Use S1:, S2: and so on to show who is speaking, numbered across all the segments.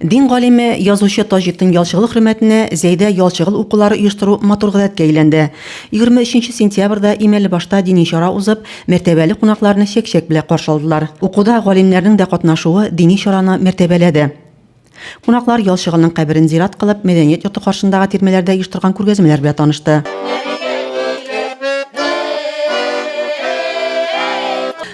S1: Дин галиме, язучы Таҗетдин Ялчыгыл хөрмәтенә Зәйдә Ялчыгыл укулары оештыру матур гадәткә әйләнде. 23 сентябрьдә Имәлебашта дини чара узып, мәртәбәле кунакларны чәк-чәк белә каршы алдылар. Укуда галимнәрнең дә катнашуы дини чараны мәртәбәләде. Кунаклар Ялчыгылның каберен зират кылып, мәдәният йорты каршындагы тирмәләрдә оештырган күргәзмәләр белән танышты.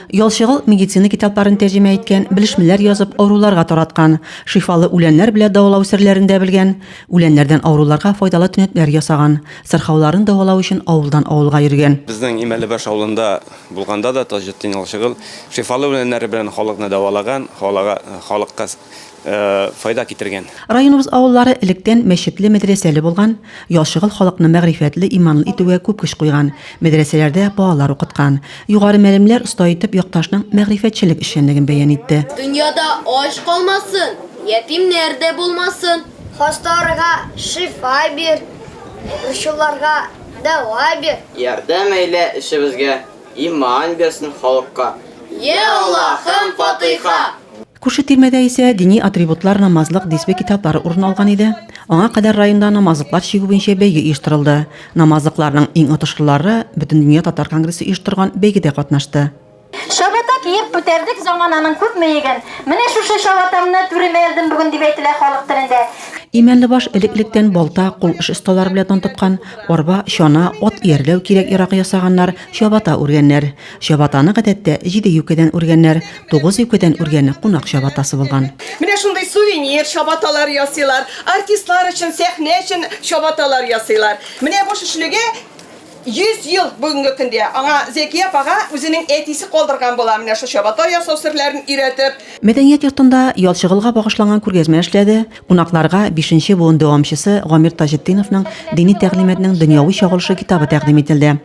S1: Ялчыгыл медицина китапларын тәрҗемә иткән, белешмәләр язып, авыруларга тараткан, шифалы үләннәр белә дәвалау серләрен дә белгән, үләннәрдән авыруларга файдалы төнәтләр ясаган, сырхауларын дәвалау өчен авылдан авылга йөргән. Безнең Имәлебаш авылында
S2: булганда да Таҗетдин Ялчыгыл шифалы үләннәре белән халыкны дәвалаган, халыга, халыкка файда китергән. Районыбыз авыллары
S1: электән мәчетле-мәдрәсәле булган, яшыгыл халыкны мәгърифәтле, иманлы итүгә күп көч куйган, мәдрәсәләрдә балалар укыткан. Югары мәлемләр оста итеп якташның мәгърифәтчелек эшчәнлеген бәян итте. Дөньяда ач
S3: калмасын, ятимнәр дә булмасын. Хасталарга
S4: шифа бир, борчуларга дәва бир. Ярдәм әйлә
S5: эшебезгә, Иман бирсен халыкка. Йә
S3: Аллаһым, фатыйха! Күрше тирмәдә
S1: исә дини атрибутлар, намазлык, дисбе китаплары урын алган иде. Аңа кадәр районда намазлыклар чигү буенча бәйге оештырылды. Намазлыкларның иң отышлылары Бөтендөнья татар конгрессы оештырган бәйгедә катнашты. Чабата
S6: киеп күтәрдек замананың күп мыегын, Менә шушы чабатамны түремә элдем бүген, дип әйтелә халык телендә. Имәнлебаш
S1: элек-электән балта, кул эш осталары белән тантыткан. Арба, чана, ат иярләү кирәк ярагы ясаганнар, чабата үргәннәр. Чабатаны гадәттә җиде юкәдән үргәннәр, тугыз юкәдән үргәне кунак чабатасы булган. Менә шундый сувенир
S7: чабаталар ясыйлар, артистлар өчен, сәхнә өчен чабаталар ясыйлар. Менә бу шешелеге 100 ел бүгенге көндә. Аңа Зәки апага үзенең әтисе калдырган була менә шул чабата ясау серләрен өйрәтеп. Мәдәният йортында
S1: ял чыгылга багышланган күргәзмә эшләде. Кунакларга бишенче буын дәвамчысы Гамир Таҗетдиновның Дини тәгълиматның дөньяви чагылышы китабы тәкъдим ителде.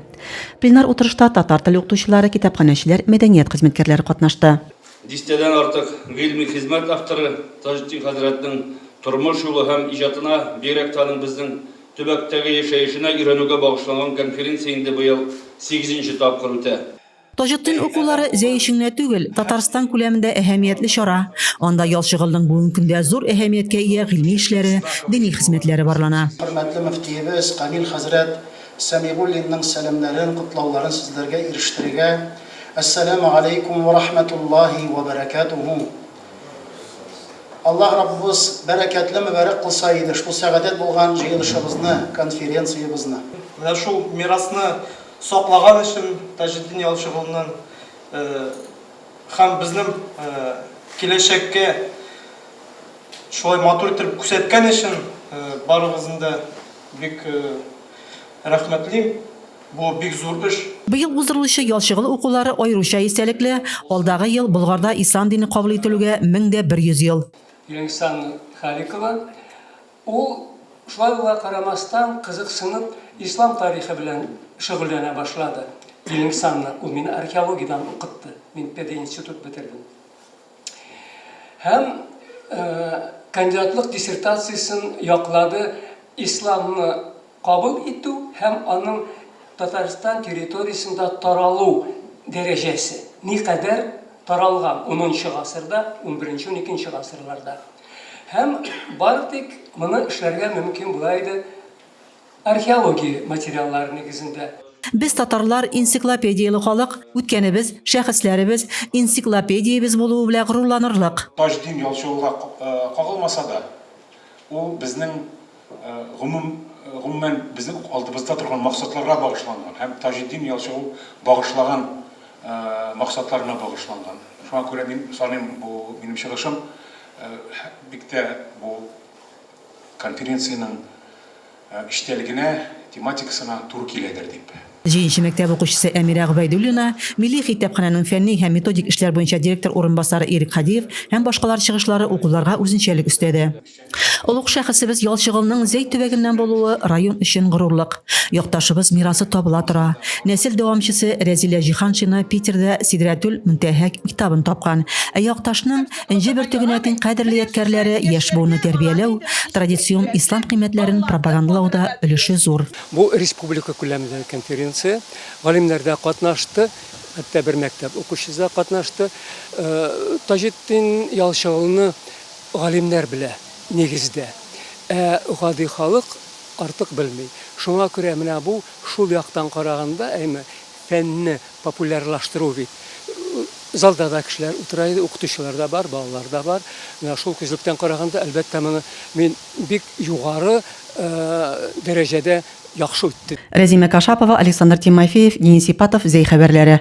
S1: Пленар утырышта татар теле укытучылары, китапханәчеләр, мәдәният хезмәткәрләре катнашты. Дистәдән артык
S8: гыйльми хезмәт авторы Таҗетдин хәзрәтнең тормыш юлы һәм иҗатына, бигрәк тә аның безнең төбәктәге яшәешенә өйрәнүгә багышланган конференция инде быел сигезенче тапкыр үтә. Таҗетдин
S1: укулары җәй өчен генә түгел, Татарстан күләмендә әһәмиятле чара. Анда Ял Чыгылның бүгенге көндә зур әһәмияткә ия гыйльми эшләре, дини хезмәтләре барлана. Хөрмәтле мөфтиебез
S9: Камил хәзрәт Сәмигуллинның сәламнәрен, котлауларын сезләргә ирештерергә. Әссәламү галәйкүм вә рахмәтуллаһи вә бәрәкәтүһү. Аллаһ Раббыбыз бәрәкәтле, мөбарәк кылса иде шул сәгадәт булган җыелышыбызны, конференциябезне. Менә шул
S10: мирасны саклаган өчен Таҗетдин Ялчыгулны һәм безнең киләчәккә шулай матур итеп күрсәткән өчен барыгызны да бик рәхмәтлим, бу бик зур эш. Быел уздырылучы
S1: Ялчыгул укулары аеруча истәлекле, алдагы ел Болгарда ислам дине кабул ителүгә мең дә бер йөз ел. Ленксан
S11: Халикова. Ул, шулай булуга карамастан, кызыксынып, ислам тарихы белән шөгыльләнә башлады. Илем санны ул мине археологиядән укытты, мин пединститут бетердем. Һәм кандидатлык диссертациясен яклады, исламны Кабул итү һәм аның Татарстан территориясендә таралу дәрәҗәсе никадәр таралган унынчы гасырда, унберенче-уникенче гасырларда? Һәм бары тик моны эшләргә мөмкин була иде археология материаллары нигезендә. Без татарлар
S1: энциклопедияле халык, үткәнебез, шәхесләребез, энциклопедиябез булуы белә горурланырлык. Таҗдин Ялчыулга
S9: кагылмаса да, ул безнең. гомумән, безнең алдыбызда торган максатларга багышланган һәм Таҗетдин Ялчыгу багышлаган максатларына багышланган. Шуңа күрә мин саныйм, бу минем чыгышым бик тә бу конференциянең эчтәлегенә, тематикасына туры киләдер дип. Җиенче мәктәп
S1: укучысы Әмирә Гобәйдуллина, Милли хитапханәнең фәнни һәм методик эшләр буенча директор урынбасары Ирек Һадиев һәм башкалар чыгышлары укуларга үзенчәлек өстәде. Олуг шәхесебез Ялчыгылның Зәй төбәгеннән булуы район өчен горурлык. Якташыбыз мирасы табыла тора. Нәсел дәвамчысы Рәзилә Җиһаншина Питерда Сидрәтүл Мөнтәһә китабын тапкан. Ә Якташның Энҗе бөртегенә тиң кадерле ядкярләре яшь буынны тәрбияләү, традицион ислам кыйммәтләрен пропагандалауда өлеше зур. Бу республика
S11: күләмендәге конференция. Галимнәрдә катнашты, хәтта бер мәктәп укучысы да катнашты. Таҗетдин Ялчыгылны Галимнәр белә, нигездә. Ә гади халык артык белми. Шуңа күрә менә бу, шул яктан караганда, әйме, фәнне популярлаштыру бит. Залда да кешеләр утыра иде, укытучылар да бар, балалар да бар. Менә шул күзлектән караганда, әлбәттә, моны мин бик югары
S1: дәрәҗәдә яхшы үтте. Рәзимә
S11: Кашапова,
S1: Александр Тимофеев, Денис Ипатов,
S11: Зәй
S1: хәбәрләре.